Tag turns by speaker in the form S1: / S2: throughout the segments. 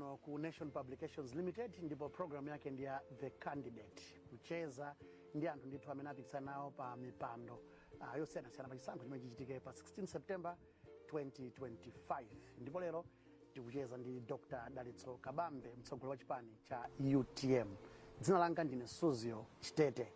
S1: kuno ku Nation Publications Limited ndipo program yake ndi ya The Candidate, kucheza ndi anthu ndithu amene apikisane nawo pa mipando uh, yosiyanasiyana pa chisankho chimene chichitike pa 16 September 2025 ndipo lero tikucheza ndi Dr. Dalitso Kabambe mtsogoleri wa chipani cha UTM. Dzina langa ndine Suzgo Chitete.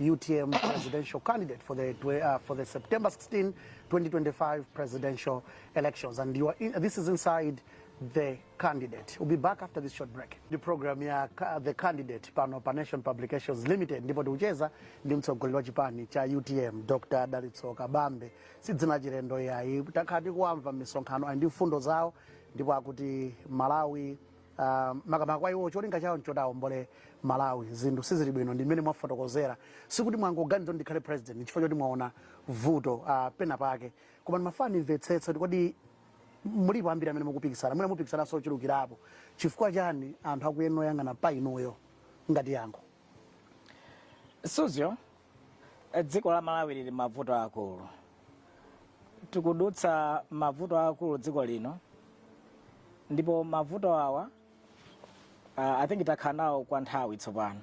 S1: utm presidential candidate for the twe- uh, for the September 16, 2025 presidential elections. And you are in, this is inside the candidate. We'll be back after this short break. Ndi program ya ca- the candidate pano pa Nation Publications Limited ndipo tikucheza ndi mtsogoleri wa chipani cha UTM Dr. Dalitso Kabambe. Si dzina lachilendo yayi takhala tikuwamva m'misonkhano ndi mfundo zawo ndipo akuti Malawi Uh, makamaka kwa iwo cholinga chawo nchoti aombole Malawi. Zinthu sizili bwino ndi mmene mwafotokozera, sikuti mwangoganiza kuti ndikhale president chifukwa choti mwaona vuto uh, pena pake, koma ndimafuna ndimvetsetse kuti kodi mulipo ambiri amene mukupikisana mwina mupikisananso ochulukirapo, chifukwa chani anthu akuyenera kuyang'ana pa inuyo ngati yankho? Suzgo,
S2: eh, dziko la Malawi lili m'mavuto akulu tikudutsa m'mavuto akulu dziko lino ndipo mavuto awa uh, i think takhala nawo kwa nthawi tsopano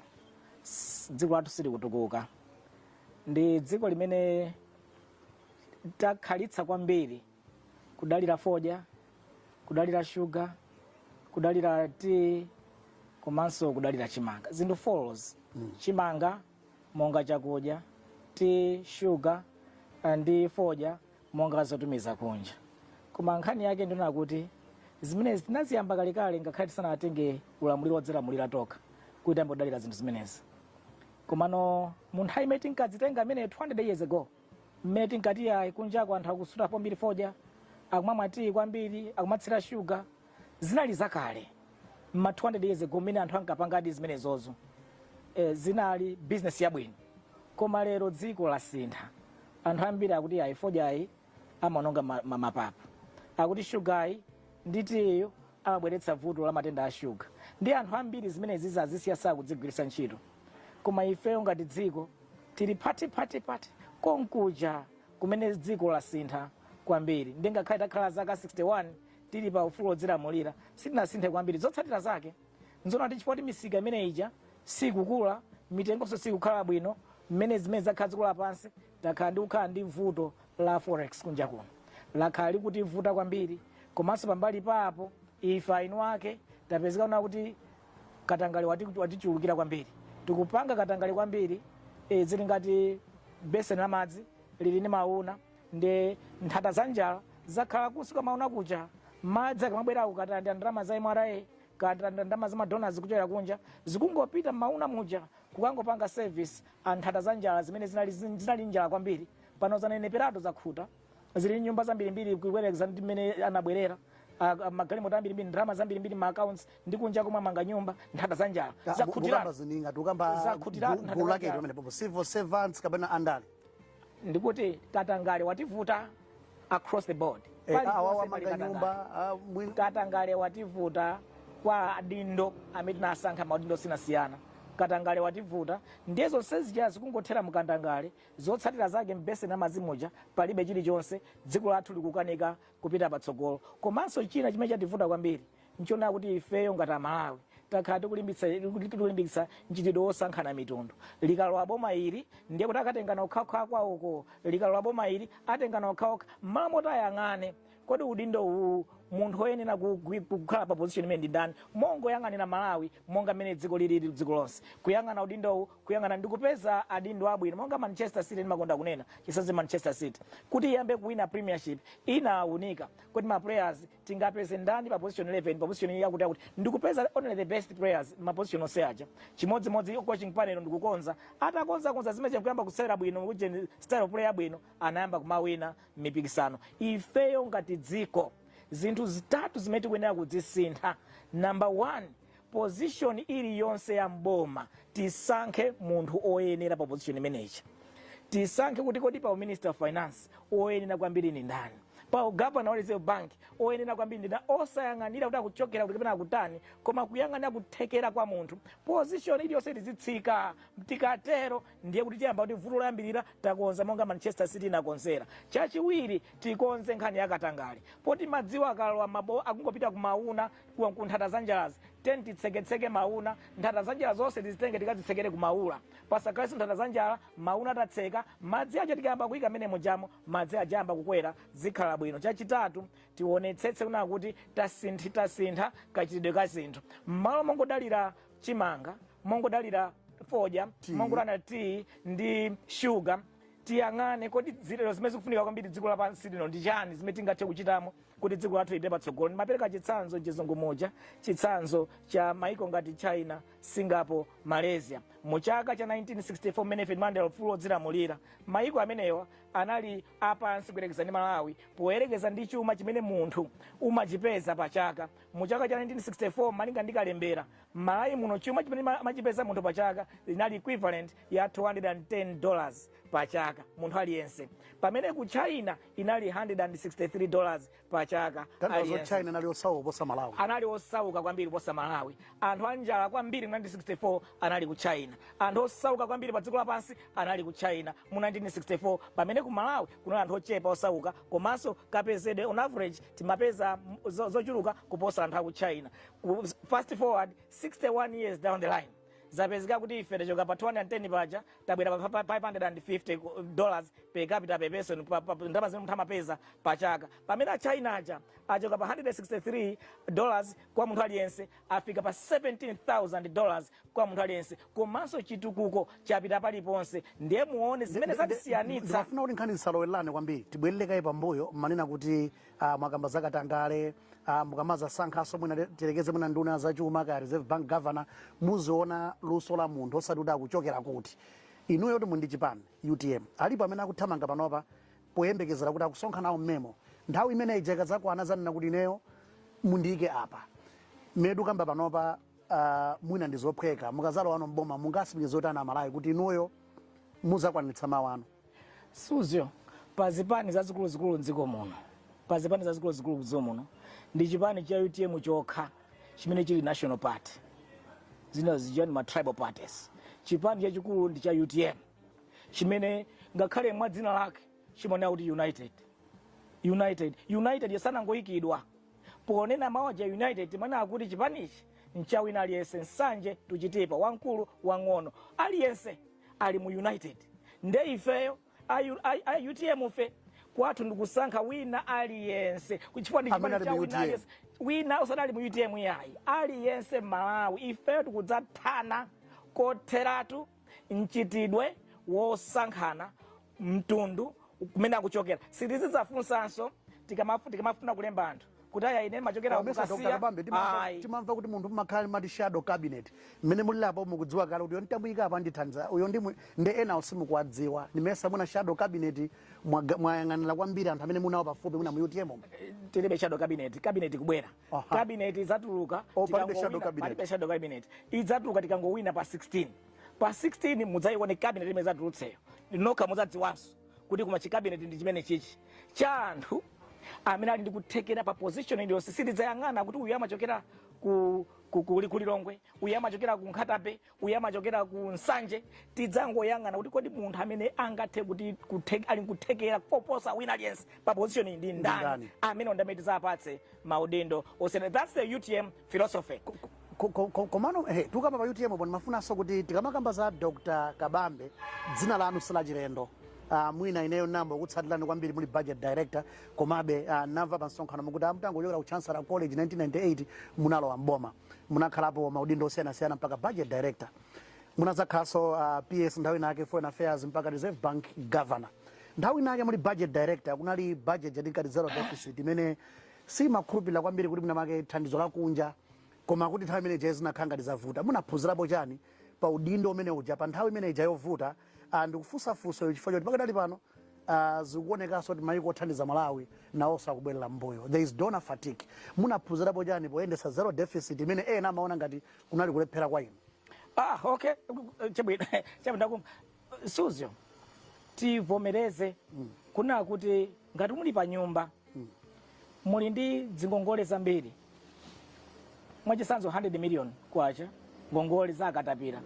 S2: S- dziko lathu silikutukuka ndi dziko limene takhalitsa kwambiri kudalira fodya kudalira shuga kudalira tiyi komanso kudalira chimanga zinthu four izo chimanga monga chakudya, tiyi, shuga eh, ndi fodya monga zotumiza kunja. Koma nkhani yake ndi yonena kuti zimenezi tinaziyamba kalekale ngakhale tisanatenge ulamuliro wodzilamulira tokha kuti tiyambe kudalira zinthu zimenezi. Komano mu nthawi imene tinkazitenga zimene 200 years ago mmene tinkati ayi kunjako anthu akusuta kwambiri fodya akumamwa tiyi kwambiri akumatsira shuga zinali zakale ma 200 years ago mmene anthu ankapangadi zimenezozo e, zinali business yabwino koma lero dziko lasintha anthu ambiri akuti ayi fodyayu amaononga ma- ma- mapapu akuti shugayu ndi tiyo amabweretsa vuto la matenda a shuga ndi anthu ambiri zimenezi anazisiya sakuzigwiritsa ntchito koma ifeyo ngati dziko tili pati pati pati konkuja kumene dziko lasintha kwambiri ndiye ngakhale takhala zaka 61 tili pa ufulu wodzilamulira sitinasinthe kwambiri. Zotsatira zake nzonena kuti chifukwa choti misika imene ija sikukula, mitengonso sikukhala bwino, mmene zimene zakhala dziko lapansi, takhala tikukhala ndi vuto la forex kunja kuno, lakhala likutivuta kwambiri. Komanso pambali pa apo, ife eni ake tapezeka kunena kuti katangale wati- watichulukira kwambiri, tikupanga katangale kwambiri. E, zili ngati beseni la madzi lili ndi mauna, ndi nthata za njala zakhala kunsi kwa mauna kuja madzi akamabwera kukatalanda ndalama za mra katalanda ndalama za madonors kuchokera kunja zikungopita mmauna muja kukangopanga service anthata za njala zimene zinali, zinali njala kwambiri pano zaneneperatu zakhuta zili nyumba zambirimbiri kuyerekeza ndi mmene anabwerera a- a- magalimoto ambirimbiri ndalama zambirimbiri ma accounts ndi kunja komwe amanga nyumba nthata za njala zakhutiratu zili ngati
S1: kamba Zakhutiratu, gulu lake nthata- pamenepopo civil servants kapena andale
S2: ndikuti katangale wativuta across the board Eh, Pali awa ponse pali wamanga
S1: katangale. nyumba ah, mwini- katangale
S2: wativuta kwa adindo amene tinasankha maudindo osiyanasiyana katangale wativuta ndiye zonse zija zikungothera mu katangale zotsatira zake mbeseni la madzi muja palibe chilichonse dziko lathu likukanika kupita patsogolo komanso china chimene chativuta kwambiri Nchonena kuti ifeyo ngati Amalawi takhala tikulimbikitsa mchitidwe wosankhana mitundu. Likalowa boma ili, ndiye kuti akatengana okhaokha akwawoko. Likalowa boma ili, atengana okhaokha. M'malo moti ayang'ane, kodi udindo uwu munthu woyenera kukhala pa position imeneyi ndi ndani, mongoyang'anira Malawi monga mmene dziko lilili dziko lonse, kuyang'ana udindowu, kuyang'ana ndi kupeza adindo abwino, monga Manchester City ndimakonda kunena, chitsanzo Manchester City, kuti iyambe kuwina Premiership, inawunika kuti ma players. tingapeze ndani pa position 11 pa position yakuti yakuti ndikupeza only the best players ma position onse aja chimodzimodzi coaching panel ndikukonza atakonzakonza zimene zija kuyamba kusewera bwino kujeni style of play yabwino anayamba kumawina mipikisano ifeyo ngati dziko zinthu zitatu zimene tikuyenera kudzisintha number one position iliyonse ya mboma tisankhe munthu oyenera pa position imeneyi tisankhe kuti kodi pa minister of finance oyenera kwambiri ndi ndani pa ugavana wa reserve bank oyenera kwambiri ndi ndani osayang'anira kuti akuchokera kuti kapena akutani koma kuyang'anira kuthekera kwa munthu position iliyonse tizitsika tikatero ndiye kuti tiyamba kuti vuto loyambirira takonza monga manchester city inakonzera chachiwiri tikonze nkhani yakatangale poti madziwo akalowa mabo akungopita kumauna ku ku nthata za njalazi teni titseketseke mauna nthata za njala zonse tizitenge tikazitsekere ku maula pasakhalenso nthata za njala mauna tatseka madzi aja tikayamba kuyika mmene mujamo madzi aja ayamba kukwera zikhala bwino chachitatu tionetsetse kunena kuti tasinthi tasintha kachitidwe ka zinthu mmalo mongodalira chimanga mongodalira fodya mongodalira tiyi ndi shuga tiyang'ane kodi zilero zimene zikufunika kwambiri dziko lapansi lino ndi chani zimene tingathe kuchitamo kuti dziko lathu lipite patsogolo ndimapereka chitsanzo chizungu muja chitsanzo cha maiko ngati china singapore malaysia mu chaka cha 1964 mmene ife timalandira ufulu wodzilamulira maiko amenewa anali apansi kuyerekeza ndi malawi poyerekeza ndi chuma chimene munthu amachipeza pa chaka mu chaka cha 1964 malinga ndi kalembera malawi muno chuma chimene ma- amachipeza munthu pa chaka linali equivalent ya 210 dollars pa chaka munthu aliyense pamene ku china inali 163 dollars pa chaka munthu aliyense china anali osauka
S1: kuposa malawi anali osauka kwambiri
S2: kuposa malawi anthu anjala kwambiri mu 1964 anali ku china anthu osauka kwambiri pa dziko lapansi anali ku china mu 1964 pamene ku malawi kunali anthu ochepa osauka komanso kapezedwe on average timapeza m- zo- zochuluka kuposa anthu aku china Ku- fast forward 61 years down the line zapezeka kuti ife tachoka pa 210 paja tabwera pa 550 dollars per capita per person ndalama zimene munthu amapeza pa chaka pamene a china aja achoka pa 163 dollars kwa munthu aliyense afika pa 17000 dollars kwa munthu aliyense komanso chitukuko chapita paliponse ndiye muone zimene zatisiyanitsa ndimafuna kuti nkhani
S1: zisalowelelane kwambiri tibwerere kaye pambuyo munanena kuti ah, mwakamba za katangale ah, mukamazasankhaso mwina te- tiyerekeze mwina nduna zachuma kaya reserve bank governor muziona luso la munthu osati kuti akuchokera kuti inuyo kuti muli ndi chipani utm alipo amene akuthamanga panopa poyembekezera kuti akusonkha nawo mmemo nthawi imene ija ikazakwana azanena kuti ineyo mundiyike apa medu kamba panopa uh, mwina ndizophweka mukazalowano mboma mungatsimikizire bwanji amalawi kuti inuyo muzakwanitsa mawu anu
S2: Suzyo pa zipani zazikuluzikulu m'dziko muno pa zipani zazikuluzikulu m'dziko muno ndi chipani cha utm chokha chimene chili national party zina zija ndi ma tribal parties chipani chachikulu ndi cha utm chimene ngakhale mwa dzina lake chimanena kuti united united united sanangoyikidwa ponena mawu aja united timanena kuti chipanichi ncha wina aliyense nsanje tuchitepo wamkulu wang'ono aliyense ali mu united nde ifeyo a U- a- a utm fe kwathu ndikusankha wina aliyense chifukwa ndi chipani cha wina aliyense wina yense osati ali mu utm yayi aliyense mmalawi ifeyo tikudzathana kotheratu mchitidwe wosankhana mtundu kumene akuchokera sitizidzafunsanso tikamafu- tikamafuna kulemba anthu kuti aya inu mumachokera Koma nimesa Dr. ku kasiya Kabambe, timamva- ayi timamva
S1: kuti munthu mmakhala ndi mati shadow cabinet mmene mulili apo mukudziwa kale kuti uyo ndidzamuyika apa ndithandiza uyo ndi mwe- ndi ena onse mukuwadziwa ndimesa muna shadow cabinet mwaga- mwayang'anira kwambiri anthu amene muli nawo pafupi muno mu utm umu. tilibe
S2: shadow cabinet cabinet kubwera Aha. cabinet idzatuluka Oh, palibe tikangowina- shadow cabinet. palibe shadow cabinet idzatuluka tikangowina pa 16 pa 16 mudzayione kabineti imene idzatulutseyo nokha mudzadziwanso kuti koma chikabineti ndi chimene chichi cha anthu amene ali ndi kuthekera pa position iliyonse sitidzayang'ana kuti uyu amachokera ku ku- ku- ku Lilongwe uyu amachokera ku Nkhata Bay uyu amachokera ku Nsanje tidzangoyang'ana kuti kodi munthu amene angathe kuti kuthe- ali nkuthekera koposa wina aliyense pa position iyi ndi ndani ndani? amene ndamene tidzapatse maudindo osiyana that's the utm philosophy Ko- ko- ko-
S1: komano ehe, tukamba pa utm bwana ndimafunanso kuti tikamakamba za dr kabambe dzina lanu silachilendo Uh, mwina ineyo ndayamba kukutsatirani kwambiri muli budget director komabe uh, ndamva pa msonkhano mukuti mutangochokera ku chancellor college 1998 munalowa mboma munakhalapo maudindo osiyanasiyana mpaka budget director munadzakhalanso uh, ps nthawi inake foreign affairs mpaka reserve bank governor nthawi inake muli budget director kunali budget ya tinkati zero deficit imene simakhulupirira kwambiri kuti mwinamake thandizo lakunja Koma kodi nthawi imene ija zinakhala ngati zavuta, munaphunzirapo chani pa udindo umene uja, pa nthawi imene ija yovuta? Ah, ndikufunsa funso ili chifukwa choti pakadali pano ah, zikuonekanso kuti maiko othandiza Malawi nawonso akubwerera mmbuyo. There is donor fatigue. Munaphunzirapo chani poyendetsa zero deficit imene ena amaona ngati kunali kulephera kwa inu? Ah, okay.
S2: Chabwino. Chabwino ndakumva. Suzyo, tivomereze kunena kuti ngati muli pa nyumba muli ndi dzingongole zambiri mwachisanzo 100 million kwacha ngongole za akatapira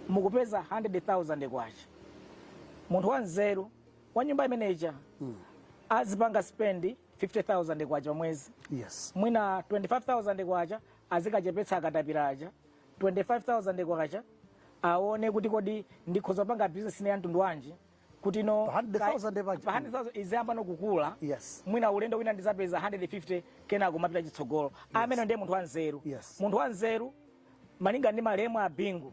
S2: mukupeza 100,000 kwacha munthu wanzeru wa nyumba imeneja azipanga spendi 50,000 kwacha mwezi yes. mwina 25,000 kwacha azikachepetsa akatapira aja 25,000 kwacha aone kuti kodi ndikhoza kupanga business ina ya mtundu wanji kuti no Pa 100,000 paja. pa 100,000 iziyamba nokukula Yes. mwina ulendo
S1: wina ndizapeza
S2: 150 kenako kumapita chitsogolo amene ndiye munthu wanzeru Yes. munthu wanzeru malinga ndi malemu a bingu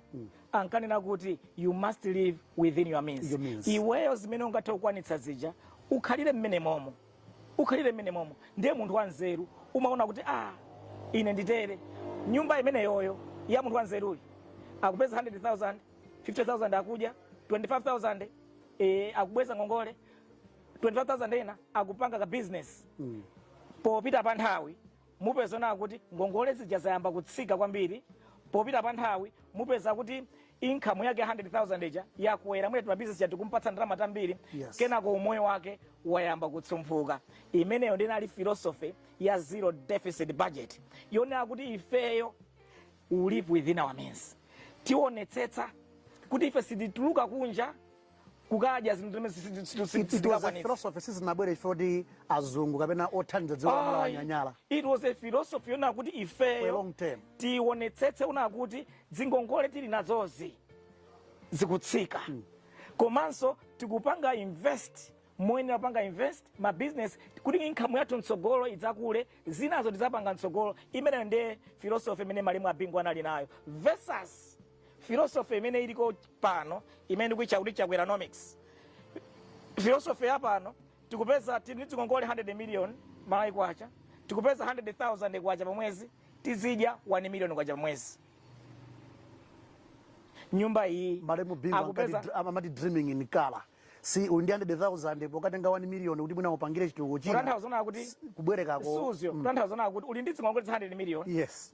S2: ankanena kuti you must live within your means, Your means. iweyo zimene ungathe kukwanitsa zija ukhalire mmene momo ukhalire mmene momo ndiye munthu wanzeru umaona kuti a ah, ine nditere nyumba imeneyoyo ya munthu wanzeruyi akupeza 100000 50000 akudya 25000 e, akubweza ngongole 25000 ena akupanga ka business mm. popita pa nthawi mupeza muona kuti ngongole zija zayamba kutsika kwambiri popita pa nthawi mupeza kuti income yake 100,000 ija yakwera mwina timabizinesi tija tikumpatsa ndalama tambiri Yes. kenako umoyo
S1: wake
S2: wayamba kutsomphuka imeneyo ndi inali philosophy ya zero deficit budget yonena kuti ifeyo we live within our means tionetsetsa kuti ife sitituluka kunja kukadya zinthu zimene si- si- si- si- It- it was a
S1: sitingakwanitse. philosophy sizinabwere chifukwa azungu kapena othandiza dziko la Malawi Ayi, anyanyala it was a philosophy
S2: yonena kuti for a ifeyo long term tionetsetse kuona kuti dzingongole tili nazozi zikutsika komanso tikupanga invest moyenera kupanga invest ma business kuti income yathu mtsogolo idzakule zinazo tizapanga mtsogolo imeneyo ndiye philosophy imene malemu a bingu anali nayo versus philosophy imene iliko pano imene ndikuitcha kuti chakweranomics philosophy ya pano tikupeza tili ndi dzingongole 100 million malawi kwacha tikupeza 100000 kwacha pamwezi tizidya 1 million kwacha pamwezi nyumba iyi malemu bingu
S1: akupeza ankati- am- amati dreaming in color si uli ndi 100000 pokatenga 1 million kuti mwina upangire chitukuko china kutanthauza kuti
S2: kubwerekako suzyo
S1: kutanthauza kuti
S2: uli ndi dzingongole 100 million yes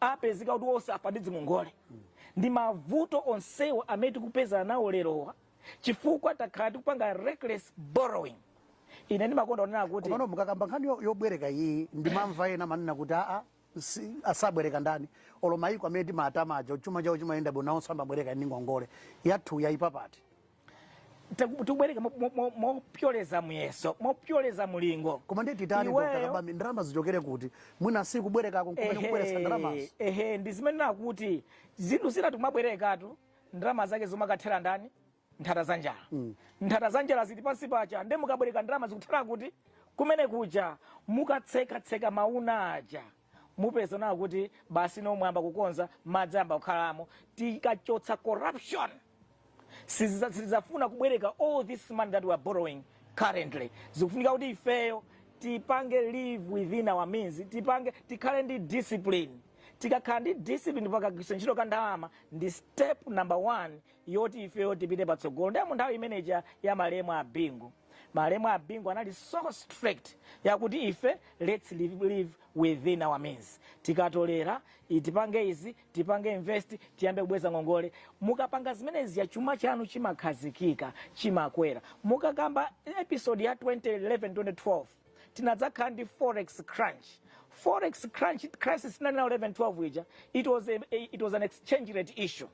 S2: apezeka kuti osafa ndi dzingongole ndi mavuto onsewa amene tikupezana nawo lerowa chifukwa takhala tikupanga reckless borrowing ine ndimakonda kunena kuti komano mukakamba nkhani
S1: yo- yobwereka iyi ndimamva ena amanena kuti aa si- asabwereka ndani olo mayiko amene timawatama aja chuma chawo chimayenda bwino nawonso amabwereka ndi ngongole yathu yayipapati
S2: Taku- tikubwereka mo- mo- mo- mopyoleza muyeso mopyoleza mulingo koma ndiye titani
S1: Iweyo- Dr. kabambe ndalama zichokere kuti mwina si kubwerekako n'kumene Ehe, kubweretsa ndalamazo ehe ndi zimene
S2: ndikuti zinthu zina tikumabwerekatu ndalama zake zikumakathera ndani nthata za njala nthata za njala zili pansi paja nde mukabwereka ndalama zikuthera kuti kumene kuja mukatsekatseka mauna aja mupeza nawo kuti basi nomwe mwayamba kukonza madzi ayamba kukhalamo tikachotsa corruption sizafuna kubwereka all this money that we are borrowing currently zikufunika kuti ifeyo tipange live within our means tipange tikhale ndi discipline tikakhala ndi discipline pakagwiritsidwe ntchito ka ndalama ndi step number one yoti ifeyo tipite patsogolo ndiye munthawi imeneja ya malemu a bingu malemu a bingu anali so strict yakuti ife lets live, live within our means tikatolera i- tipange izi tipange invest tiyambe kubweza ngongole mukapanga zimenezi ya chuma chanu chimakhazikika chimakwera mukakamba episode ya 2011 2012 tinadzakhala ndi forex crunch forex crunch crisis 11 12 ija it was, a, a, it was an exchange rate issue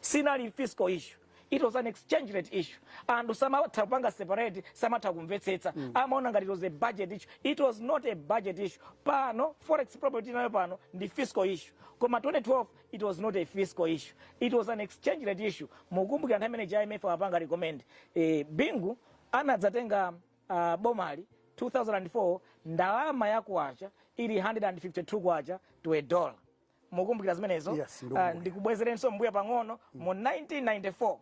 S2: sinali fiscal issue it was an exchange rate issue anthu samatha kupanga separate samatha kumvetsetsa mm. amaona ngati it was a budget issue it was not a budget issue pano forex problem tili nayo pano ndi fiscal issue koma 2012 it was not a fiscal issue it was an exchange rate issue mukumbukira nthawi imeneja imf apanga recommend eh, bingu anadzatenga uh, bomali 2004 ndalama ya kwacha ili 152 kwacha to a dollar mukumbukira zimenezo yes, uh,
S1: ndikubwezereninso
S2: mbuya pang'ono mm. mu 1994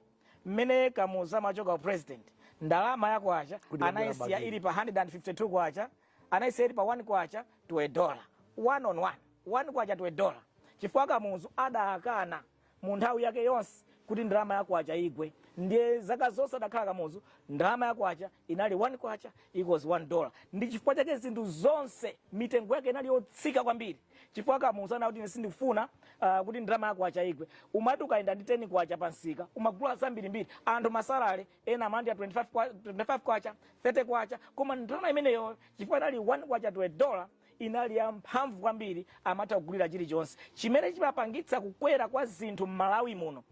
S2: mmene kamuzu amachoka upresident ndalama ya kwacha anayisiya ili pa 152 kwacha anayisiya ili pa 1 kwacha to a dollar one on one one kwacha to a dollar chifukwa kamuzu adakana mu nthawi yake yonse kuti ndalama ya kwacha igwe ndiye zaka zonse adakhala kamuzu ndalama ya kwacha inali 1 kwacha equals 1 dollar ndi chifukwa chake zinthu zonse mitengo yake inali yotsika kwambiri chifukwa kamuzu anakana kuti ine sindikufuna uh, kuti ndalama ya kwacha igwe umati ukayenda ndi 10 kwacha pamsika umagula zambirimbiri anthu masalale anu amalandira 25 kwa- 25 kwacha 30 kwacha koma ndalama imeneyo chifukwa inali 1 kwacha to a dollar inali ya mphamvu kwambiri amatha kugulira chilichonse chimene chimapangitsa kukwera kwa zinthu m'malawi muno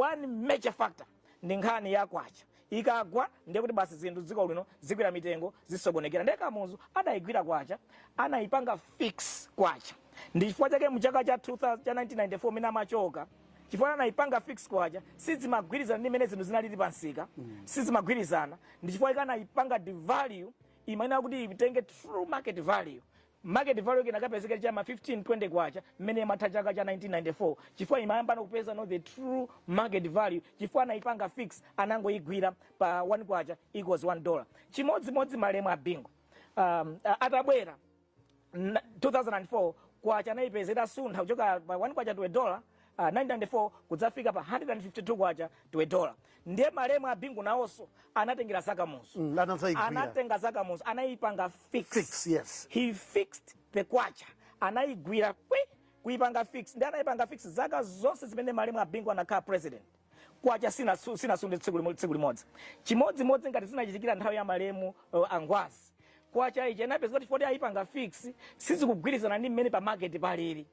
S2: one major factor ndi nkhani ya kwacha ikagwa ndiye kuti basi zinthu m'dziko lino zikwera mitengo zisokonekera ndiye kamuzu adayigwira kwacha anayipanga fix kwacha ndi chifukwa chake mu chaka cha 2000 cha 1994 mene amachoka chifukwa anayipanga fix kwacha sizimagwirizana ndi mene zinthu zinalili pa msika mm. sizimagwirizana ndi chifukwa chake anayipanga devalue imayenera kuti itenge true market value Market value yake inakapezeka ili cha ma 15 20 kwacha mmene imatha chaka cha 1994 chifukwa imayamba no kupeza no the true market value chifukwa anaipanga fix anangoigwira pa 1 kwacha equals 1 dollar chimodzimodzi malemu a bingu um, a- atabwera n- 2004 kwacha anaipeza itasuntha kuchoka pa 1 kwacha to a dollar uh, ah, 1994 kudzafika pa 152 kwacha to a dollar ndiye malemu a bingu nawonso anatengera za kamuzu mm, anatenga za kamuzu anayipanga fix, fix yes. he
S1: fixed
S2: the kwacha anayigwira kwi kuyipanga fix ndiye anayipanga fix zaka zonse zimene malemu a bingu anakhala president kwacha sinasunthe sina tsiku limodzi chimodzimodzi ngati zinachitikira nthawi ya malemu uh, angwazi kwacha ija inapezeka kuti poti ayipanga fix sizikugwirizana ndi mmene pa market palili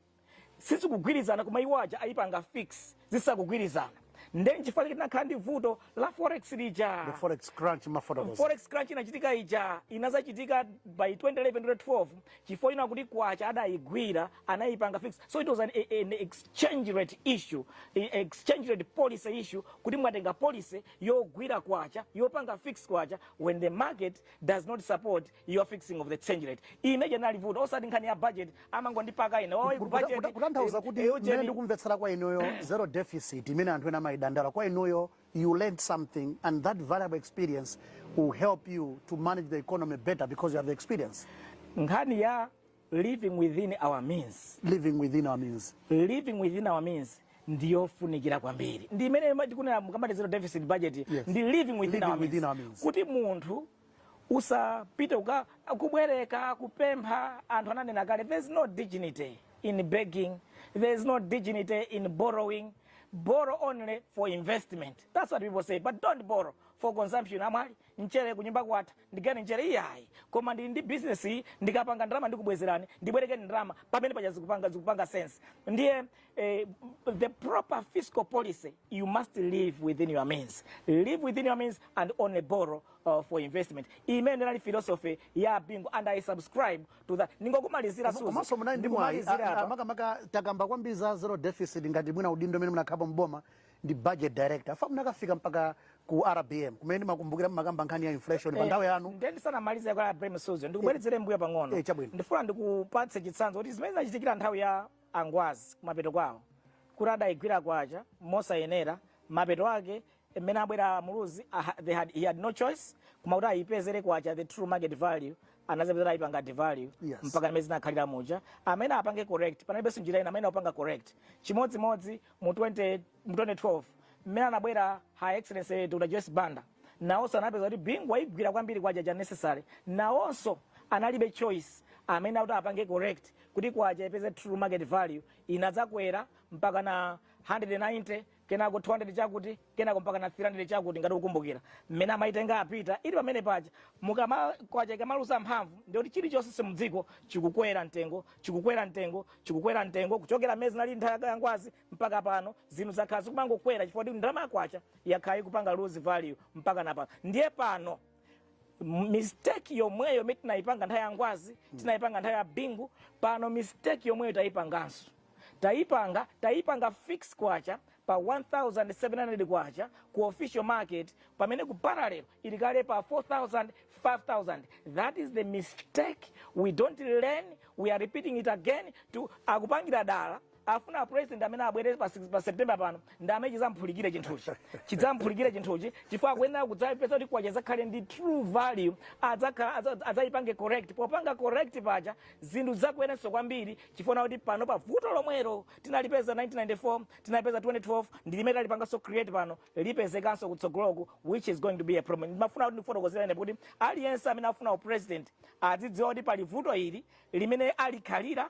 S2: sizikugwirizana koma iwo aja ayipanga fix zisakugwirizana nde nchifukwa chake tinakhala ndi vuto la forex lija The forex crunch
S1: mumafotokoza. forex crunch inachitika
S2: ija inazachitika by 2011 12 chifukwa chinali kuti kwacha adayigwira anayipanga fix so it was an, a- an exchange rate issue a- exchange rate policy issue kuti mwatenga policy yogwira kwacha yopanga fix kwacha when the market does not support your fixing of the exchange rate imene ija inali vuto osati nkhani ya budget amangondipaka ine oyi Ku- kuta- kuta-
S1: kutanthauza kuti mmene budget ndikumvetsera kwa inuyo zero deficit imene anthu ena amayidandaula kwa inuyo you learned something and that valuable experience will help you to manage the economy better because you have the experience nkhani
S2: ya living within our means living within our
S1: means living within our
S2: means ndiyofunikira kwambiri ndi imene tikunena mukamati zero deficit budget Yeah. ndi living within,
S1: Living our,
S2: within means. our means. kuti munthu usapite uka kubwereka kupempha anthu ananena kale there is no dignity in begging there is no dignity in borrowing borrow only for investment that's what people say but don't borrow for consumption amwali mchere kunyumba kwatha ndigawireni mchere iyayi koma ndili ndi business iyi ndikapanga ndalama ndikubwezerani ndibwerekeni ndalama pamene paja zikupanga zikupanga sense ndiye Uh, the proper fiscal policy, you must live within your means. Live within your means and only borrow uh, for investment. Imene inali philosophy ya Bingu and I subscribe to that. Ningokumalizira suzu. Komanso munali ndi mwayi
S1: makamaka takamba kwambiri za zero deficit ngati mwina udindo umene munakhapo mboma ndi budget director. Afa munakafika mpaka ku RBM kumene ndimakumbukira mumakamba nkhani ya inflation eh, pa nthawi yanu. Ndiye ndisanamalize kwa RBM
S2: suzu. Ndikubwerezere mbuyo pang'ono. Eh, ndifuna ndikupatse chitsanzo kuti zimene zinachitikira nthawi ya a Ngwazi kumapeto kwawo kuti adayigwira kwacha mosayenera mapeto ake mmene abwera a Muluzi a, ha- they had, he had no choice koma kuti ayipezere kwacha the true market value anadzapezera ayipanga devalue Yes. mpaka mmene zinakhalira muja amene apange correct panalibenso njira ina amene akupanga correct chimodzimodzi mu 20 mu 2012 mmene anabwera Her Excellency Dr. Joyce Banda nawonso anapeza kuti Bingu wayigwira kwambiri kwacha than necessary nawonso analibe choice amene akuti apange correct kuti kwacha ipeze true market value inadzakwera mpaka na 190 kenako 200 chakuti kenako mpaka na 300 chakuti ngati ukumbukira mmene amaitenga apita ili pamene paja mukama kwacha ikamaluza mphamvu ndiye kuti chilichonse cha mudziko chikukwera mtengo chikukwera mtengo chikukwera mtengo kuchokera mmene zinali nthawi ya Ngwazi mpaka pano zinthu zakhala zikumangokwera chifukwa kuti ndalama ya kwacha yakhala ikupanga lose value mpaka na pano ndiye pano m- mistake yomweyo imene tinayipanga nthawi ya Ngwazi tinayipanga nthawi ya Bingu pano mistake yomweyo tayipanganso tayipanga tayipanga fix kwacha pa 1700 kwacha ku official market pamene ku parallel ili kale pa 4000 5000 that is the mistake we don't learn we are repeating it again akupangira dala afuna president amene abwere pa, six- pa september pano ndi amene chizamphulikire chinthuchi chidzamphulikire chinthuchi chifukwa akuyenera kudzapeza kuti kwacha izakhale ndi true value adzakhala adza- adzayipange correct popanga correct paja zinthu zizakwerenso kwambiri chifukwa kuti pano pa vuto lomwero tinalipeza 1994 tinalipeza 2012 ndi limene talipanganso create pano lipezekanso kutsogoloku which is going to be a problem ndimafuna kuti ndifotokozere ine kuti aliyense amene afuna upresident azidziwa kuti pali vuto ili limene alikhalira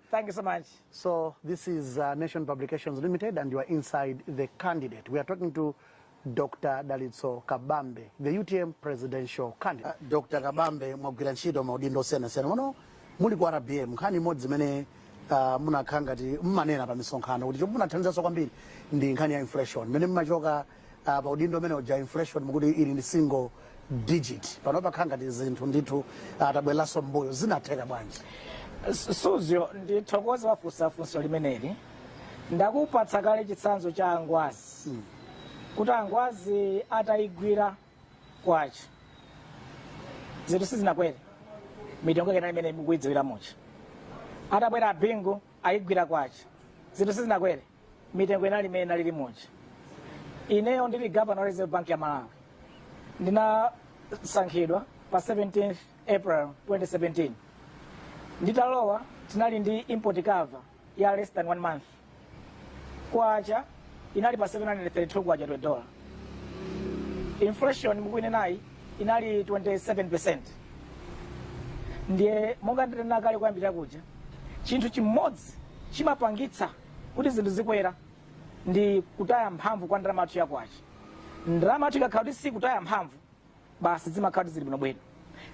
S1: Thank you so
S2: much. So this
S1: is uh, Nation Publications Limited, and you are inside the candidate. We are talking to Dr. Dalitso Kabambe, the UTM presidential candidate. Uh, Dr. Kabambe mwagwira ntchito m'maudindo osiyanasiyana mmene muli ku RBM nkhani imodzi imene uh, munakhala ngati mmanena pa misonkhano kuti chomwe munathandizanso kwambiri ndi nkhani ya inflation imene mmachoka uh, pa udindo umene uja inflation mukuti ili ndi single digit pano pakhala ngati zinthu ndithu tabwereranso mbuyo zinatheka bwanji Su- suzyo
S2: ndithokoza wafunsa funso limeneli ndakupatsa kale chitsanzo cha angwazi kuti angwazi atayigwira kwacha zinthu sizinakwere mitengo yake imene mukuyidziwira muja atabwera a Bingu ayigwira kwacha zinthu sizinakwere mitengo inali imene inalili muja ineyo ndili gavana wa reserve bank ya malawi ndinasankhidwa pa 17th april 2017 nditalowa tinali ndi import cover ya less than one month kwacha inali pa 732 kwacha to a dollar inflation mukuinenayi inali 27 percent ndiye monga nditanena kale kuyambira kuja chinthu chimodzi chimapangitsa kuti zinthu zikwere ndi kutaya mphamvu kwa ndalama yathu yakwacha ndalama yathu ikakhala kuti sikutaya mphamvu basi zimakhala kuti zili bwinobwino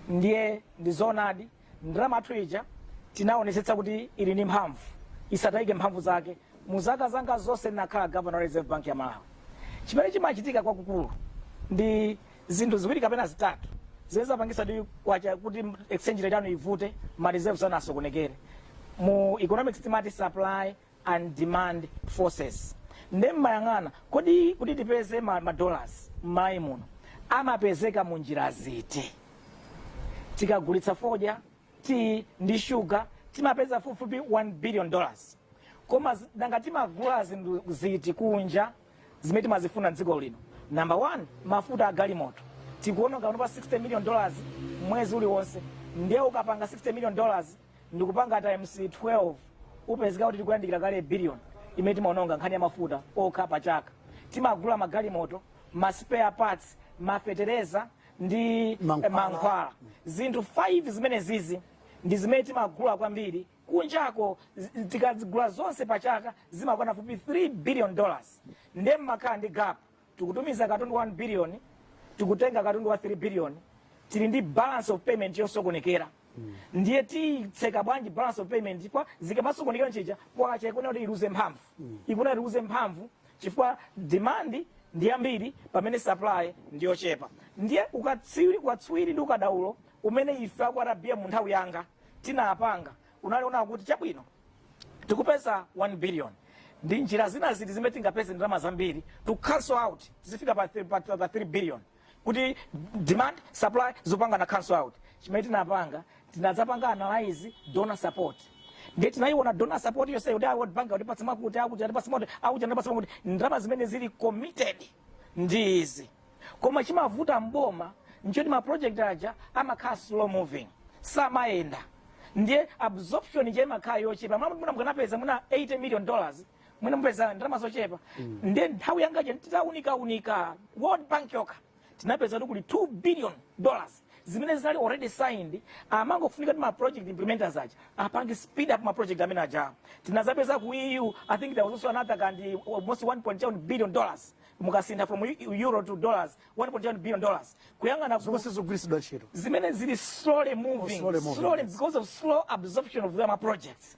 S2: ndiye ndi zoonadi ndalama yathu ija tinaonetsetsa kuti ili ndi mphamvu isatayike mphamvu zake mu zaka zanga zonse ndinakhala governor wa reserve bank ya malawi chimene chimachitika kwakukulu ndi Zinthu ziwiri kapena zitatu zimene zapangisa kuti exchange rate yanu ivute, ma reserves anu asokonekere. Mu economics timati supply and demand forces. Nde mmayang'ana kodi kuti tipeze ma, ma dollars m'Malawi muno amapezeka mu njira ziti? Tikagulitsa fodya, tea ndi sugar timapeza fupifupi 1 billion dollars. Koma nanga timagula zinthu ziti kunja zimene timazifuna mdziko lino number one mafuta agalimoto tikuononga panopa 60 million dollars mwezi uliwonse ndiye ukapanga 60 million dollars ndikupanga times 12 upezeka kuti tikuyandikira kale billion imene timaononga nkhani ya mafuta okha pa chaka timagula magalimoto ma spare parts mafetereza ndi mankhwala zinthu 5 zimenezizi ndi zimene timagula kwambiri kunjako tikazigula zonse pa chaka zimakwana fupi 3 billion dollars nde mmakhala ndi gap tikutumiza katundu 1 billion tikutenga katundu wa 3 billion tili ndi balance of payment yosokonekera ndiye titseka bwanji balance of payment chifukwa zikamasokonekera nchija kwacha ikuna kuti iluze mphamvu ikuna kuti iluze mphamvu chifukwa demand ndi yambiri pamene supply ndi yochepa ndiye ukatswiri ndi ukadaulo umene ife aku RBM mu nthawi yanga tinapanga unali woona kuti chabwino tikupeza 1 billion ndi njira zina ziti zimene tingapeze ndalama zambiri to cancel out tizifika pa, pa, pa, pa 3 billion kuti demand supply zipangana cancel out chimene tinapanga tinadzapanga analyze donor support ndiye tinayiona donor support yonse kuti a world bank atipatsa makuti akuti atipatsa makuti akuti atipatsa makuti ndalama zimene zili committed ndi izi koma chimavuta mboma nchoti ma project aja amakhala slow moving samayenda ndiye absorption ija imakhala yochepa mwina mukanapeza mwina 80 million dollars mwina mupeza ndalama zochepa ndiye nthawi yangaja titaunikaunika world bank yokha tinapeza kuti kuli 2 billion dollars zimene zinali already signed zimangofunika kuti ma project implementers aja apange speed up ma project amene aja tinadzapeza ku EU I think there was also another kandi almost 1.7 billion dollars mukasintha from eu- euro to dollars 1.7 billion dollars kuyang'ana ku- zomwe sizogwiritsidwa ntchito zimene zili slowly moving, slowly moving, slowly yes. because of slow absorption of them projects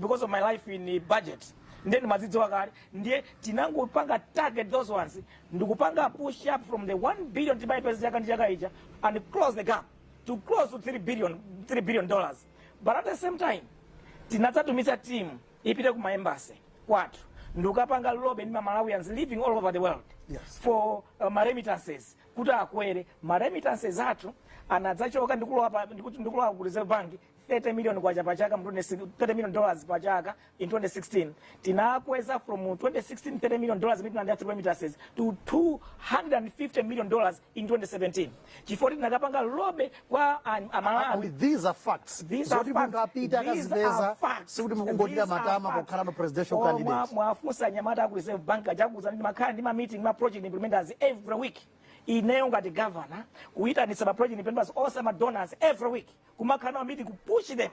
S2: because of my life in budget ndiye ndimazidziwa kale ndiye tinangopanga target those ones ndikupanga push up from the 1 billion timayipeza chaka ndi chaka ija and close the gap to close to 3 billion 3 billion dollars but at the same time tinadzatumiza team ipite ku maembasi kwathu ndikapanga lobby ndi ma Malawians living all over the world Yes. for uh, ma remittances kuti akwere ma remittances athu anadzachoka ndikulowa pa- ndiku- ndikulowa ku reserve bank 30 million kwacha pa chaka mu 20 30 million dollars pa chaka in 2016 tinakweza from 2016 30 million dollars imene tinalandira through remittances to 250 million dollars in 2017 chifukwa tinakapanga lobby kwa an- amalawi And these are
S1: facts. These are Zoti facts. munthu apite
S2: These akazipeze are facts. sikuti mukungotira These are matama facts. pokhala
S1: no presidential Oh, mwa- candidate. muwafunse anyamata
S2: aku reserve bank adzakuuzani ndimakhala ndi ma meeting ma project implementers every week ineyo ngati governor kuyitanitsa ma project implementers onse ma donors every week kumakhala nawo meeting ku push them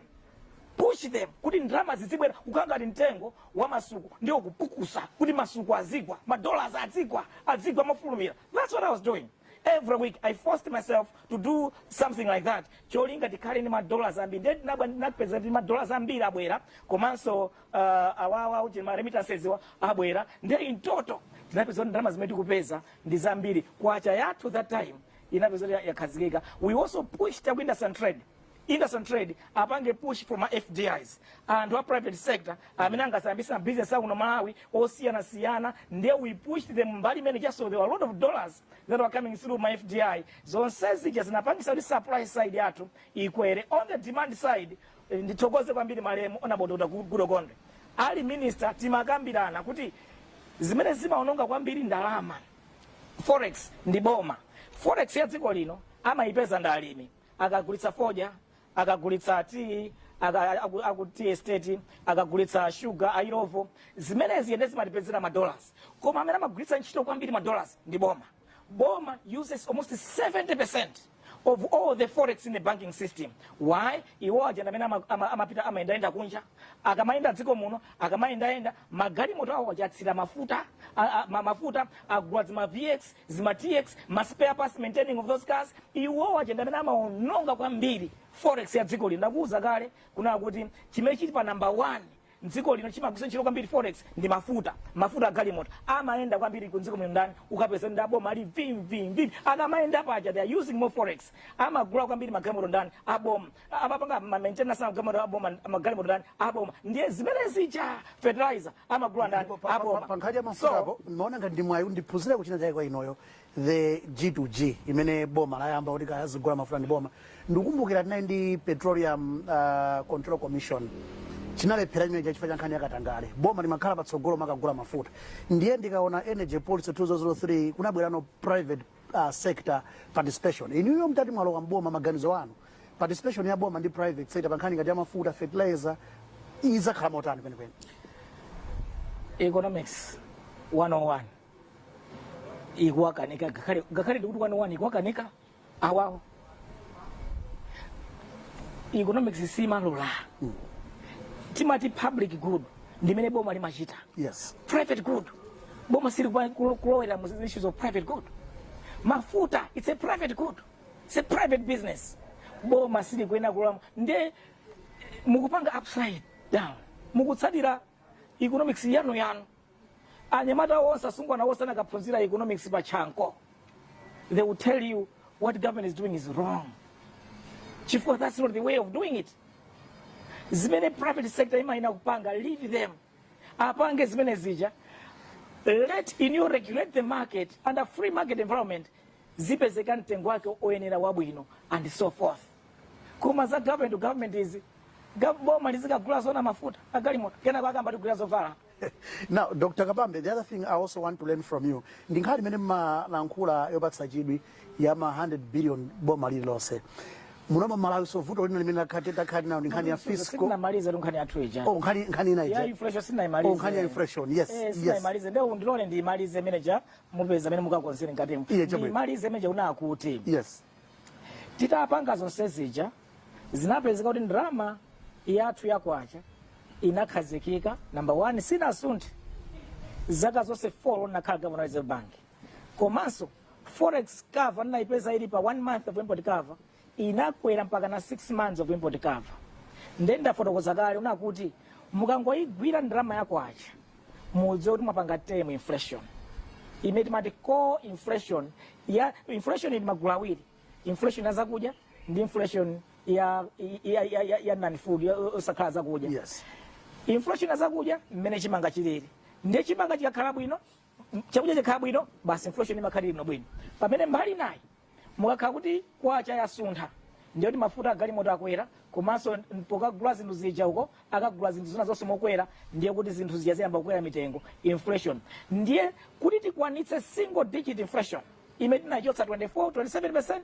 S2: push them kuti ndalama zizibwera kukhala ngati mtengo wa masuku ndi kuupukusa kuti masuku azigwa madollars azigwa azigwa mofulumira that's what i was doing every week i forced myself to do something like that cholinga tikhale ndi madollars ambiri ndiye tinabwa ndinapeza kuti madollars ambiri abwera komanso uh, awawa uti ma remittances wa abwera ndiye in total tinapeza kuti ndalama zimene tikupeza ndi zambiri kwacha yathu that time inapeza kuti yakhazikika we also pushed a ku industry and trade industry and trade apange push for ma fdis anthu a private sector amene angadzayambitse business akuno malawi osiyana siyana nde we pushed them mbali imene ijanso there were a lot of dollars that were coming through ma fdi zonse zija zinapangitsa kuti supply side yathu ikwere on the demand side eh, ndithokoze kwambiri malemu honourable Dr Goodall Gondwe ali minister timakambirana kuti zimene zimaononga kwambiri ndalama forex ndi boma forex ya dziko lino amayipeza ndi alimi akagulitsa fodya akagulitsa tea aka- aku- aku tea estate akagulitsa shuga a Illovo zimenezi nde zimatipezera madollars koma amene amagwiritsa ntchito kwambiri madollars ndi boma boma uses almost 70 of all the forex in the banking system why iwo aja amene ama- ama- amapita amayendayenda kunja akamayenda dziko muno akamayendayenda magalimoto awo aja atsira mafuta a- a- ma- mafuta agula zima vx zima tx ma spare parts maintaining of those cars iwo aja amene amaononga kwambiri forex ya dziko lino ndakuwuza kale kuno kuti chimene chili pa number one mdziko lino chimagwiritsa ntchito kwambiri forex ndi mafuta mafuta agalimoto amayenda kwambiri mdziko muno ndani ukapeza ndi aboma ali vimvimvi akamayenda paja they are using more forex amagula kwambiri magalimoto ndani aboma amapanga mamaintenance magalimoto aboma magalimoto ndani aboma ndiye zimene zija fertilizer amagula ndani aboma pankhani ya mafuta apo
S1: maona ngati ndi mwayi ndiphunzireko chinachake kwa inuyo the G to G imene boma layamba kuti kaya lizigula mafuta ndi boma ndikukumbukira tinali ndi petroleum uh, control commission chinalephera chimenecho chifukwa cha nkhani yakatangale boma limakhala patsogolo pokagula mafuta ndiye ndikaona energy policy 2003 kunabwerano private uh, sector participation inuyo mtati mwalowa mboma maganizo anu participation ya boma ndi private sector pankhani ngati ya mafuta fertilizer izakhala motani kwenikweni economics
S2: 101 ikuwakanika ngakhale ngakhale ndikuti one o one ikuwakanika awawo economics simalola timati public good ndimene boma limachita yes private
S1: good
S2: boma sili kupa- kulo- kulowera mu issues of private good mafuta it's a private good it's a private business boma sili kuyenera kulowa nde mukupanga upside down mukutsatira economics yanu yanu Anyamata onse asungwana onse anakaphunzira economics pa Chanco. They will tell you what government is doing is wrong. Chifukwa that's not the way of doing it. Zimene private sector imayenera kupanga, leave them. Apange zimene zija. Let inu regulate the market under free market environment zipezeka mtengo wake oyenera wabwino and so forth. Koma za government to government izi gov- boma lizikagula zona mafuta agalimoto kenako akamatigulira zovala Now,
S1: Dr. Kabambe, the other thing I also want to learn from you, ndi nkhani imene mmalankhula yopatsa chidwi ya ma 100 billion boma lililonse. Muno mMalawi so vuto lina limene takhala tili nalo ndi nkhani ya fiscal. Sitinamaliza nkhani
S2: ya treasure. Oh, nkhani nkhani ina Ya
S1: ija. inflation sitinaimalize.
S2: Oh, nkhani ya inflation.
S1: Yes, Eh, yes. sitinaimalize. Ndiye
S2: ndiloleni ndiimalize manager mupeza amene mukakonzere ngati. Iye chabwino. Ndiimalize manager unakuti. Yes.
S1: Titapanga
S2: zonse zija zinapezeka kuti ndrama yathu ya kwacha inakhazikika number one sinasunthe zaka zonse 4 nakhala gavana wa reserve bank komanso forex cover ndinayipeza ili pa one month of import cover inakwera mpaka na six months of import cover nde ndafotokoza kale kunena kuti mukangoyigwira ndrama ya kwacha mudziwe kuti mwapanga tame inflation imene timati core inflation ya inflation ili magulu awiri inflation ya zakudya ndi inflation ya ya ya, ya, ya non food ya- osakhala zakudya
S1: yes
S2: inflation ya zakudya mmene chimanga chilili ndiye chimanga chikakhala bwino m- chakudya chikakhala bwino basi inflation imakhala bwino bwino pamene mbali inayi ikakhala kuti kwacha yasuntha ndiye kuti mafuta agalimoto akwera komanso pokagula zinthu zija uko akagula zinthu zina zonse mokwera ndiye kuti zinthu zija ziyamba kukwera mitengo inflation ndiye kuti tikwanitse single digit inflation imene tinayichotsa 24 27%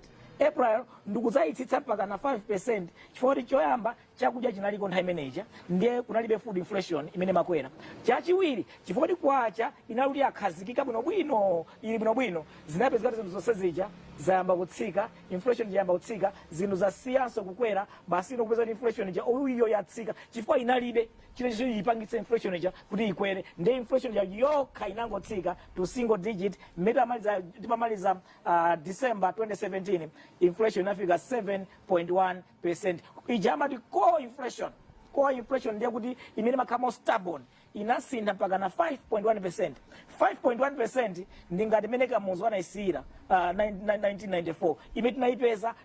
S2: april ndikudzayitsitsa mpaka na 5% chifukwa kuti choyamba chakudya chinaliko nthawi imeneja ndiye kunalibe food inflation imene imakwera chachiwiri chifukwa kuti kwacha inali kuti yakhazikika bwinobwino ili bwinobwino zinapezeka kuti zinthu zonse zija zayamba kutsika inflation ija yayamba kutsika zinthu zasiyanso kukwera basi ndikupeza kuti inflation ija iyo yatsika chifukwa inalibe chimene choti chiyipangitse inflation ija kuti ikwere ndiye inflation ija yokha inangotsika to single digit mmene amaliza timamaliza uh, december 2017 inflation inafika 7.1 percent ija amati core inflation core inflation ndiye kuti imene imakhala stubborn inasintha mpaka na 5.1 percent 5.1 percent ndi ngati imene kamuzu anayisiyira uh, 1994 imene tinayipeza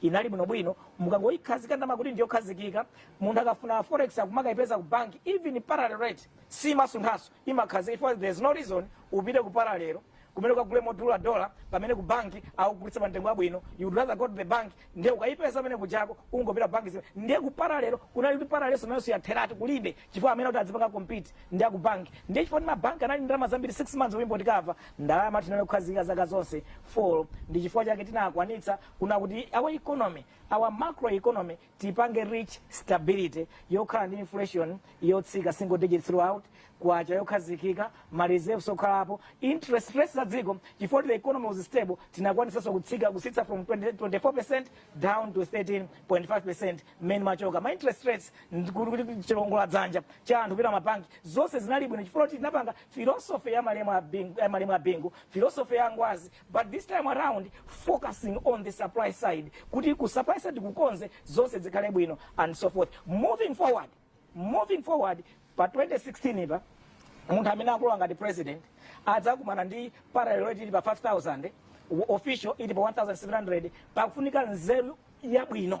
S2: inali bwinobwino mukangoyikhazika ndalama kuti ndiyokhazikika munthu akafuna forex akumakayipeza ku bank even parallel rate simasunthanso imakhazika chifukwa there is no reason upite ku parallel kumene ukagule modula dola pamene ku bank akugulitsa pa mtengo wabwino you would rather go to the bank ndiye ukayipeza pamene kujako ungopita ku bank zimene ndiye ku parallel kunali kuti parallel nayonso yatheratu kulibe chifukwa amene kuti adzipanga compete ndi aku bank ndiye chifukwa mabank anali ndalama zambiri 6 months of import cover ndalama tinali kukhazika zaka zonse 4 ndi chifukwa chake tinakwanitsa kunena kuti our economy our macro economy tipange reach stability yokhala ndi inflation yotsika single digit throughout kwacha yokhazikika ma reserves okhalapo interest rates za dziko chifukwa the economy was stable tinakwanisanso kutsika kusitsa from 20, 24% down to 13.5% mmene timachoka ma interest rates ndi kuti kuti chiwongola dzanja cha anthu kupita mabanki zonse zinali bwino chifukwa kuti tinapanga philosophy ya malemu a Bingu- ya malemu a bingu philosophy ya ngwazi but this time around focusing on the supply side kuti ku supply side kukonze zonse zikhale bwino and so forth moving forward moving forward pa 2016 ipa munthu amene akulowa ngati president adzakumana ndi parallel rate ili pa 5000 official ili pa 1700 pakufunika nzeru yabwino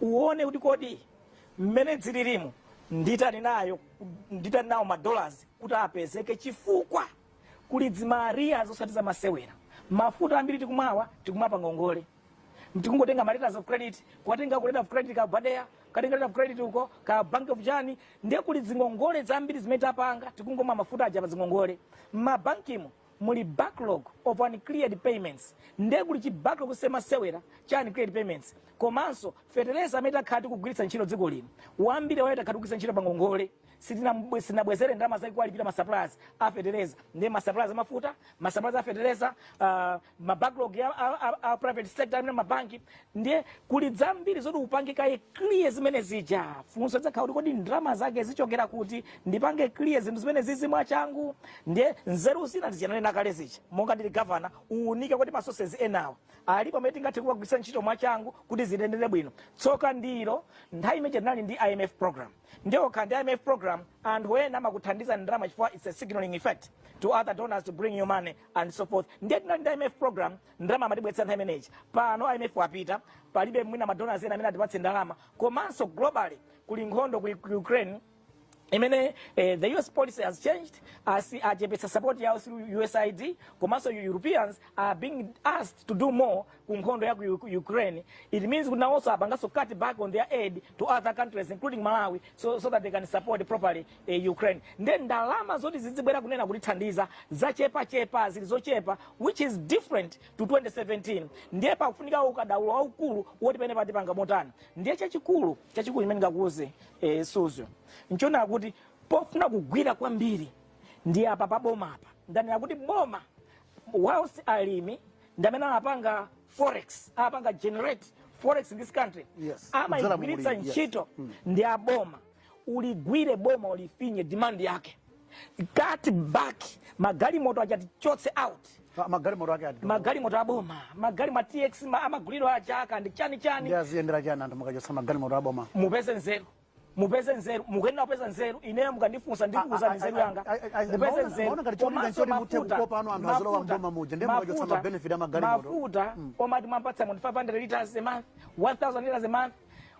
S2: uone kuti kodi mmene zililimu nditani nayo nditani nawo madolars kuti apezeke chifukwa kuli dzimariya zosati zamasewera mafuta ambiri tikumwawa, tikumwa pa ngongole tikungotenga ma letters of credit katenga ka letter of credit ka BADEA katenga letter of credit uko ka bank of chani ndiye kuli zingongole zambiri zimene tapanga tikungomwa mafuta aja pa zingongole m'mabankimo muli backlog of uncleared payments nde kuli chi backlog yosemasewera cha uncleared payments komanso feteleza amene takhala tikugwiritsa ntchito dziko lino wambiri waiwo takhala tikugwiritsa ntchito pangongole sitinabwe- sinabwezere ndalama zake kuwalipira masuppliers a feteleza ndi masuppliers amafuta masuppliers a feteleza uh, mabacklog a, a, a, a private sector amene mabanki ndiye kuli zambiri zoti upange kaye clear zimene zija funso lizakhala kuti kodi ndalama zake zichokera kuti ndipange clear zinthu zimene zizi mwachangu ndiye nzeru zina ndi zija nanena kale zija monga ndili gavana uunike kuti masosezi enawa alipo amene tingathe kuwagwiritsa ntchito mwachangu kuti ziyendere bwino tsoka ndilo nthawi imene tinali ndi imf program ndiye ukakhala ndi imf program anthu ena amakuthandiza ndalama chifukwa its a signaling effect to other donors to bring you money and so forth ndiye tinali ndi imf program ndalama amatibweretsera nthawi imene ija pano imf wapita palibe mwina madonors ena amene atipatse ndalama komanso globally kuli nkhondo ku ku ukraine imene eh, the us policy has changed asi achepetsa support yawo through usaid komanso europeans are being asked to do more ku nkhondo ya ku U- ku ukraine it means kuti nawonso apanganso cut back on their aid to other countries including malawi so, so that they can support properly e Ukraine nde ndalama zoti zizibwera kunena kutithandiza zachepa chepa zili zochepa which is different to 2017 ndiye pakufunika ukadaulo waukulu woti pena patipanga motani ndiye chachikulu chachikulu chimene ngakuuze e, suzyo nchonena kuti pofuna kugwira kwambiri ndi apa pa boma apa ndanena kuti boma whilst alimi ndamene amapanga forex apanga generate forex in this country Yes. amaigwiritsa Kudzera mu ulimi,
S1: yes.
S2: ntchito ndi aboma uligwire boma ulifinye demand yake cut back magalimoto achatichotse out Ah, magalimoto ake ati
S1: magalimoto aboma
S2: magalimo a tx ma- amaguliro achaka ndi chani ndi chani aziyendera chani anthu
S1: mukachotsa magalimoto aboma mupeze
S2: nzeru mupeze nzeru mukuyenera kupeza nzeru ineyo mukandifunsa ndikuuzani nzeru yanga mupeze nzeru Komanso mafuta- mafuta- mafuta- mafuta omati mwampatsa munthu 500 liters a month 1000 liters a month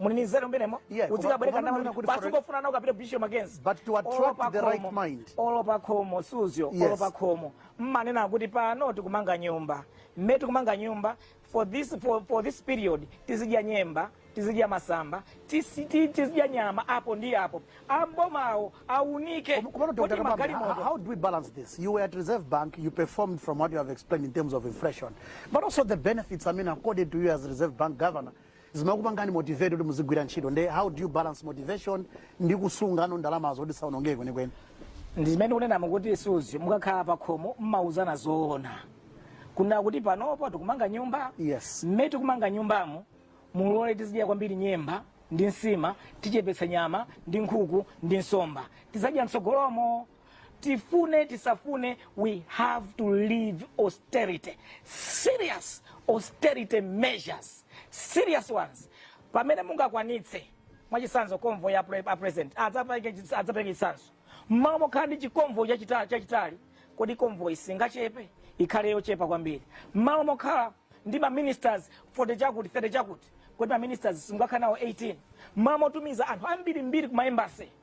S2: mulibe nzeru mmenemo Yeah, koma- udzikabwereka koma ndalama ndikunena kuti basi for- ungofuna nawo apita bishop mackenzie But to attract Olo pa
S1: the right khomo, mind. olo pa
S2: khomo suzyo olo Yes. pa khomo mmanena kuti pano tikumanga nyumba mmene tikumanga nyumba for this, for, for this period tizidya nyemba tizidya masamba tisi- ti- tizidya nyama apo ndi apo abomawo aunike Kom- Komano Dr. kuti Kabambe, how,
S1: magalimoto how do we balance this? You were at Reserve Bank, you performed from what you have explained in terms of inflation, but also the benefits, I mean, accorded to you as Reserve Bank governor, zimakupangani motivate kuti muzigwira ntchito nde how do you balance motivation ndi kusungano ndalamazo kuti zisaonongeke kwenikweni ndi zimene ndikunenamo
S2: kuti suzyo mukakhala pakhomo mmauzana zoona kunena kuti panopo tikumanga nyumba Yes. mmene
S1: tikumanga
S2: nyumbamo mulole tizidya kwambiri nyemba ndi nsima tichepetsa nyama ndi nkhuku ndi nsomba tizadya mtsogolomo tifune tisafune we have to leave austerity serious austerity measures serious ones pamene mungakwanitse mwachitsanzo convoy ya pre- a president adzapereke chis- adzapereke chitsanzo mmalo mokhala ndi chikonvoy chachita- chachitali kodi convoy singachepe ikhale yochepa kwambiri mmalo mokhala ndi maministers 40 chakuti 30 chakuti kodi maministers simungakhala nawo 18 mmalo motumiza anthu ambirimbiri ku maembasi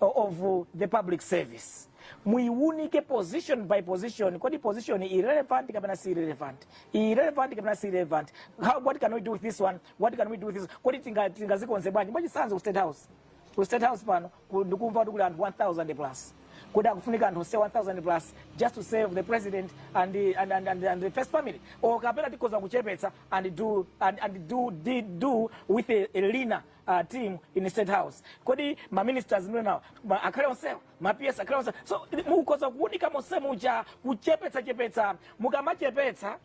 S2: of the public service muiwunike position by position kodi position ili relevant kapena sili relevant ili relevant kapena sili relevant How, what can we do with this one what can we do with this kodi tinga- tingazikonze bwanji mwachitsanzo ku state house ku state house pano ku- ndikumva kuti kuli anthu 1000 plus kodi akufunika anthu onse 1000 plus just to serve the president and the, and, and, and, and the first family or kapena tikhoza kuchepetsa and do and, and do, do, do with a, a leaner uh, team in the state house kodi ma ministers mwenawo ma- akhale onsewo ma ps akhale onsewo so mukhoza kuunika monse muja kuchepetsa chepetsa mukamachepetsa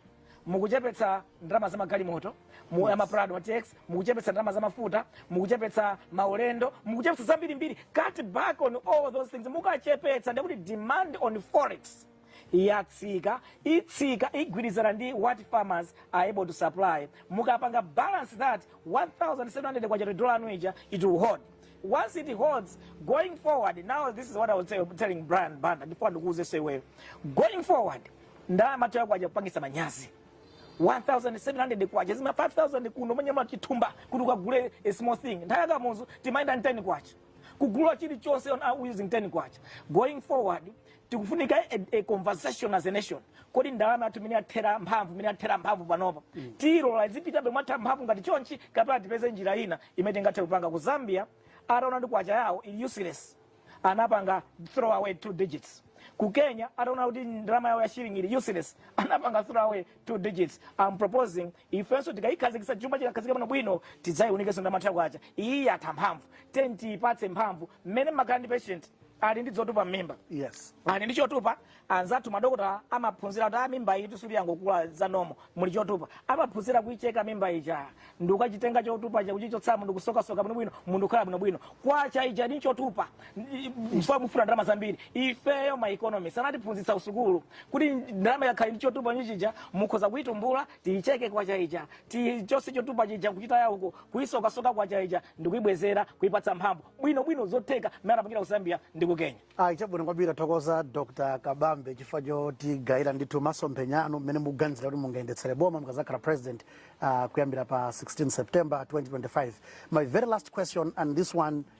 S2: mukuchepetsa ndalama za magalimoto a ma prado tx mukuchepetsa ndalama za mafuta mukuchepetsa maulendo mukuchepetsa zambirimbiri cut back on all those things mukachepetsa ndekuti demand on forex yatsika itsika igwirizana ndi what farmers are able to supply mukapanga balance that 1700 kwacha to dollar yanu ija it will hold once it holds going forward now this is what i was tell- telling brian banda ndifuna ndikuuze nso iweyo going forward ndalama yathuyo kwacha ikupangitsa manyazi 1700 kwacha zima 5000 kunomanyamula chithumba kuti ukagule a small thing nthawi ya kamuzu timayenda ndi ten kwacha kugula chilichonse on uh, using 10 kwacha going forward tikufunika a, a conversation as a nation kodi ndalama yathu imene yatha mphamvu imene yatha mphamvu panopa mm. tiilola izipitabe yotha mphamvu ngati chonchi kapena tipeze njira ina imene tingathe kupanga ku zambia ataona ndi kwacha yawo ili useless anapanga throw away two digits ku kenya ataona kuti ndalama yawo ya shilling ili useless anapanga throw away two digits i'm proposing ifenso tikayikhazikitsa chuma chikakhazikika bwinobwino tidzayiunikenso ndalama yathu ya kwacha iyi yatha mphamvu tiyeni tiyipatse mphamvu mmene mumakhala ndi patient ali ndi chotupa mmimba yes ali ndi
S1: chotupa
S2: anzathu madokotala amaphunzira kuti a mimba iyi tisati yangokula zanomo muli chotupa amaphunzira kuyicheka mimba ija ndi kukachitenga chotupa chija kuchichotsa munthu kusokasoka bwinobwino munthu kukhala bwinobwino kwacha ili ndi chotupa mfuna mufuna ndalama zambiri ifeyo ma economist anatiphunzitsa kusukulu kuti ndalama ikakhala ndi chotupa ichi chija mukhoza kuitumbula tiyicheke kwacha ija tichotse chotupa chija kuchitaya uko kuyisokasoka kwacha ija ndikuyibwezera kuyipatsa mphamvu bwino bwino zotheka mmene anapangira ku zambia ndi ku kenya ayi chabwino kwambiri
S1: tathokoza dr kabambe chifukwa chotigawira ndithu masomphenya anu mmene mukuganizira kuti mungayendetsere boma mukazakhala president uh, kuyambira pa 16 september 2025 my very last question and this one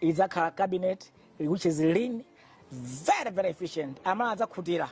S2: idzakhala cabinet which is lean very very efficient aMalawi adzakhutira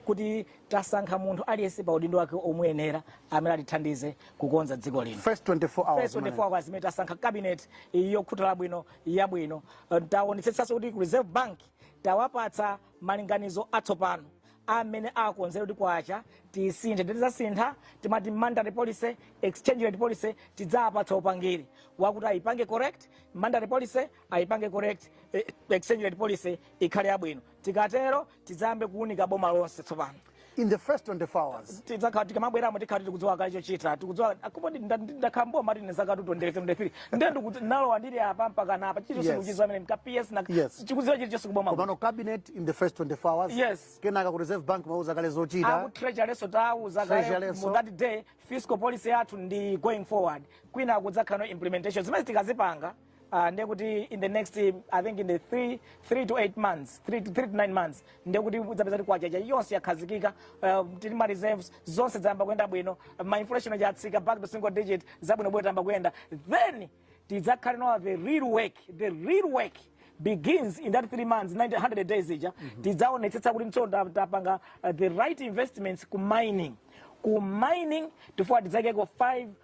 S2: kuti tasankha munthu aliyense pa udindo wake omuyenera amene atithandize kukonza dziko lino first 24 hours first 24 hours imene tasankha cabinet yokhutira bwino yabwino taonetsetsanso kuti ku reserve bank tawapatsa malinganizo atsopano amene akonzere kuti kwacha tisinthe tidzasintha timati monetary policy exchange rate policy tidzapatsa upangiri wakuti ayipange correct monetary policy ayipange correct eh, exchange rate policy ikhale yabwino tikatero tidzayambe kuunika boma lonse tsopano in the first 24 hours tidzakhala tikamabweramo tikhala tikudziwa kale chochita tikudziwa chifukwa poti ndakhala mboma ine zakatu 23 ndiye ndikuti nalowa ndili apa mpaka napa chilichonse Yes. ndikuchidziwa amene mpaka ps ndi Yes. kudziwa chilichonse kuboma kuno. komano cabinet in the first 24 hours Yes. kenaka ku reserve bank tawauza kale zochita aku treasurynso tawauza kale Treasurynso. mu that day fiscal policy yathu ndi going forward kwina kudzakhala no implementation zimene tikadzapanga uh, ndiye kuti in the next i think in the 3 3 to 8 months 3 to 3 to 9 months ndiye kuti udzapeza kuti kwacha ija yonse yakhazikika uh, tili ma reserves zonse zayamba kuyenda bwino ma inflation aja atsika back to single digit zabwino bwino tayamba kuyenda then tidzakhale now the real work the real work begins in that three months 90, 100 days ija tidzaonetsetsa kuti tsono ta- tapanga uh, the right investments ku mining ku mining tifuna tidzaikeko